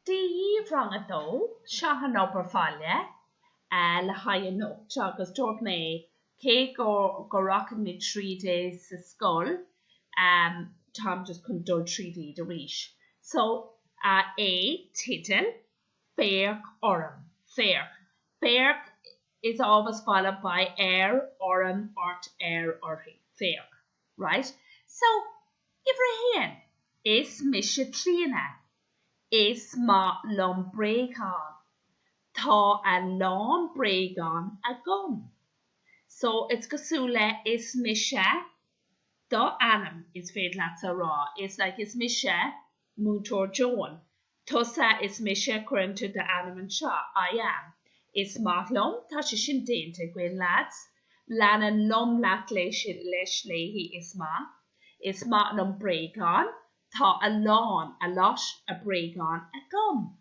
dhaoibh rang a dó, seo an obair bhaile le haghaidh anocht agus dúirt mé cé go ndeachaigh mé tríd é sa scoil táim just chun dul tríd iad arís so A tideal, Féach orm, Féach, Féach is always followed by ar, orm, ort, air, uirthi, Féach. Right, so, uimhir a haon, is mise Clíona. Is maith liom bréagáin. Tá a lán bréagán agam. So, it's cosúil le is mise do ainm, is féidir leatsa a rá. It's like is mise Múinteoir Joan, Tusa is mise cuireann tú d'ainm anseo, I am. Is maith liom, tá sé sin déanta, againn leaids. Leanann liom leat leis léi, is maith. Is maith liom bréagáin, tá a lán, a lot, a bréagáin agam.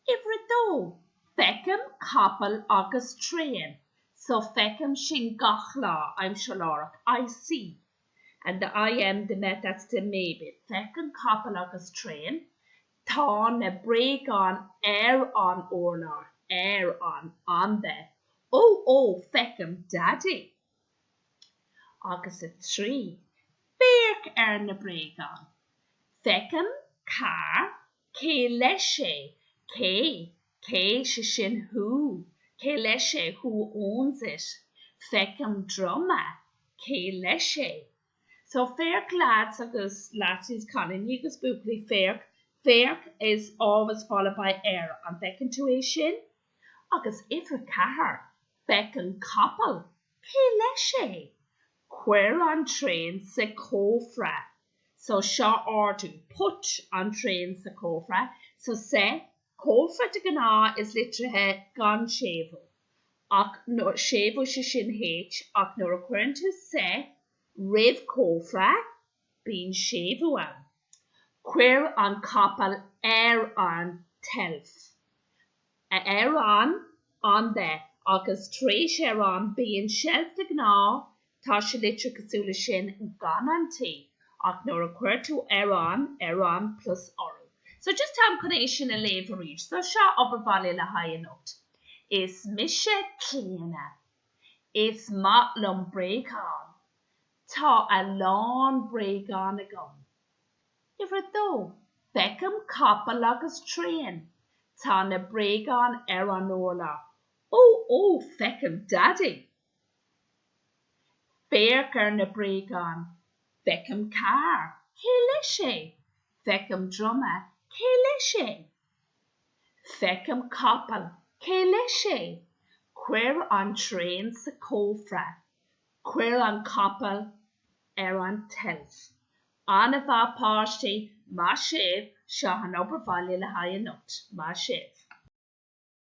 Uimhir a dó, Feicim capall agus traein, so feicim sin gach lá, aimsir láithreach, I see. and the IM the mé, that's the mé bit, feicim capall agus traein tá na bréagáin ar an urlár ar an on the ó ó feicim daidí agus a trí féach ar na bréagáin feicim carr cé leis é cé Cé, sé sin who? Cé leis é? Who owns it? Feicim druma. Cé leis é? So, féach lads agus lassies, cailíní agus buachaillí, féach, féach is always followed by ar, an bhfeiceann tú é sin? Agus uimhir a ceathair, Feicim capall. Cé leis é? Cuir an traein sa chófra. So, seo, ordú. Put an traein sa chófra. So, sa. Cófra de ghnáth it's litrithe gan séimhiú ach nuair séimhiú sé sin H ach nuair a chuireann tú sa roimh cófra bíonn séimhiú ann. Cuir an capall ar an tseilf. Ar an, on the, agus tar éis ar an bíonn seilf de ghnáth, Tá sé litrithe cosúil le sin gan an T ach nuair a chuireann tú ar an, ar an, plus urú. So just táim chun é sin a léamh arís. So seo obair bhaile le haghaidh anocht. Is mise Clíona. Is maith liom bréagáin. Tá a lán bréagáin agam. Uimhir a dó, Feicim capall agus traein. Tá na bréagáin ar an urlár. Ó, ó, feicim Daidí! Féach ar na bréagáin. Feicim carr. Cé leis é? Feicim druma. Cé leis é? Feicim capall. Cé leis é? Cuir an traein sa chófra. Cuir an capall ar an tseilf. An-mhaith páistí, maith sibh, seo an obair bhaile le haghaidh anocht, maith sibh.